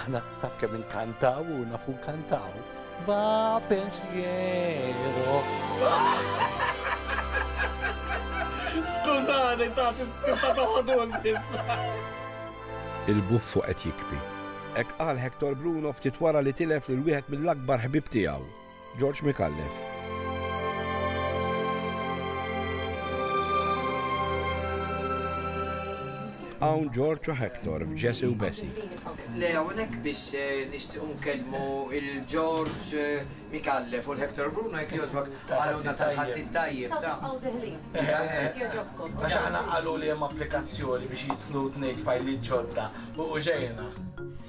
Aħna taf kemm inkantaw u nafu nkantaw. Va pensiero. Skużani, ta' tista' toħodun Il-buffu qed jikbi. Hekk qal Hector Bruno ftit wara li tilef lil wieħed mill-akbar ħbieb tiegħu. George Micallef. Hawn George u Hector f'Ġesi u Besi. Le hawnhekk biex eh, nixtiequ nkellmu il-George eh, Mikallef u l-Hector Bruno jekk jogħġbok għaluna tal-ħaddi tajjeb ta' Għax aħna qalu li hemm applikazzjoni biex jitlu tnejn fajli ġodda u ġejna.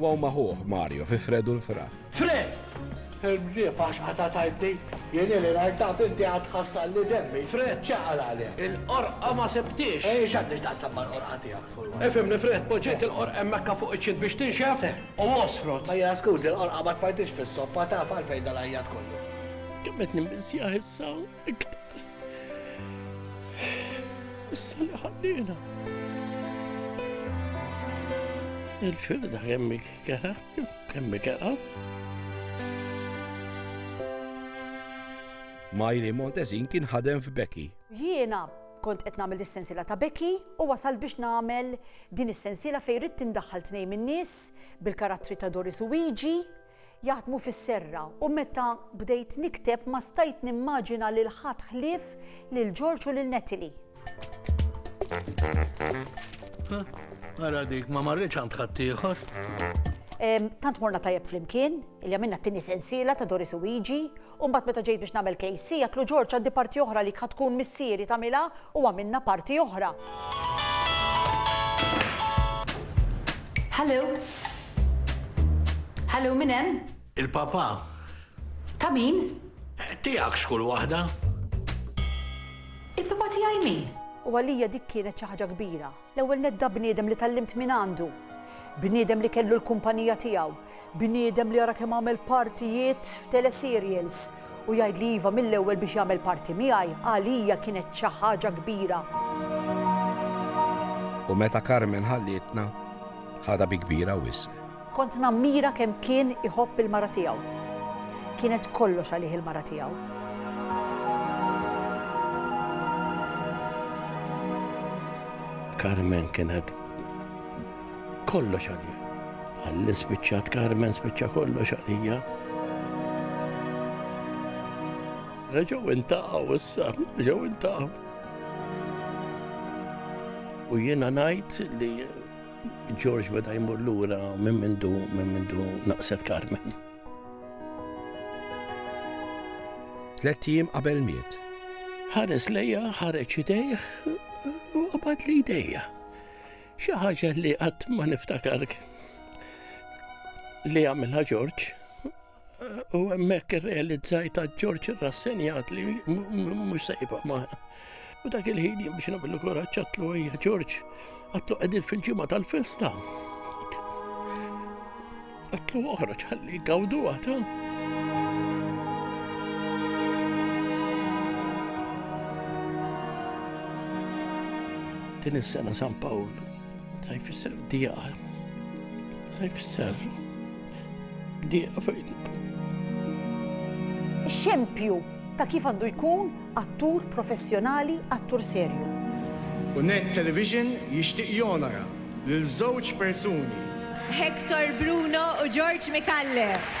Wow ma' ħuh, Mario, fi Fred u l-Fra. Fred! Il-mġieb għax qatgħet għajnti. Jien ili ngħid taf inti għad tħassarli demmi. Fred ċaqar għalih. Il-qorqa ma sibthiex. Ejn x'għandi x'taqsam mal-qorqa tiegħek furwa. Ifhimni Fred, poġġejt il-qorqa hemmhekka fuq iċ-ċint biex tinxef u għosfrot. Mela skużi, l-qorqa ma tfajthiex fis-soffa taf għalfejn dal-għajjat kollu. Kemm qed nimmisja issa iktar. Issa li ħallina. Il-firda kemm kera, kemm kera. Majri Montezin kien ħadem f'Beki. Jiena kont qed nagħmel is-sensiela ta' Beki u wasal biex nagħmel din is-sensiela fejn rid tindaħħal tnejn min-nies bil-karattri ta' Doris u Wiji jaħdmu fis-serra u meta bdejt nikteb ma stajt nimmaġina lil ħadd ħlief lil George u lil Natalie. Huh, ara dik ma marritx għand ħaddieħor. Tant morna tajjeb flimkien, li għamilna t-tini sensiela ta' Doris u Igi, U mbagħad meta ġejt biex nagħmel KC għedtlu Ġorġ għandi parti oħra li kha tkun missieri tagħmilha u għamilna parti oħra. Hallo? Hallo min hemm? Il-papa. Ta' min? Tiegħek xkull waħda. Il-papa tiegħi min? U għalija dik kienet xi ħaġa kbira. L-ewwel nett da bniedem li tgħallimt mingħandu. Bniedem li kellu l-kumpanija tiegħu. Bniedem li ara kemm għamel partijiet f'teleserials. U jgħidli iva mill-ewwel biex jagħmel parti miegħi għalija kienet xi ħaġa kbira. U meta Carmen ħallietna, ħadha bi kbira wisq. Kont nammira kemm kien iħobb il-mara tiegħu. Kienet kollox għalih il-mara tiegħu. Carmen kienet kollox għalih. Għalli spiċċat Carmen spiċċa kollox għalija. Reġaw intaqaw issa, reġaw intaqaw. U jiena najt li George beda jmur lura minn mindu minn mindu naqset Carmen. Tlet jiem qabel miet. Ħares lejja, ħareġ idejh, u qabad li idejja. Xi ħaġa li qatt ma niftakar li għamilha George U hemmhekk irrealizzajt ta' Ġorġ irrassenjat li mhux se jibqa' magħna. U dak il-ħin jien biex nagħmlu kuraġġ għatlu hija Ġorġ, għatlu qegħdin fil-ġimgħa tal-festa. Għatlu oħra ċalli gawdu għata. Din is-sena San Pawl, sa jfisser dija, sa jfisser Dieqa f'għidek. Xempju ta' kif għandu jkun attur professjonali, attur serju. U Net Television jixtieq jonora lil żewġ persuni. Hector Bruno u George Micallef.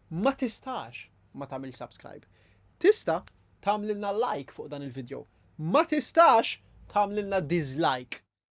ma tistax ma tagħmilx subscribe. Tista' tagħmlilna like fuq dan il-video. Ma tistax tagħmlilna dislike.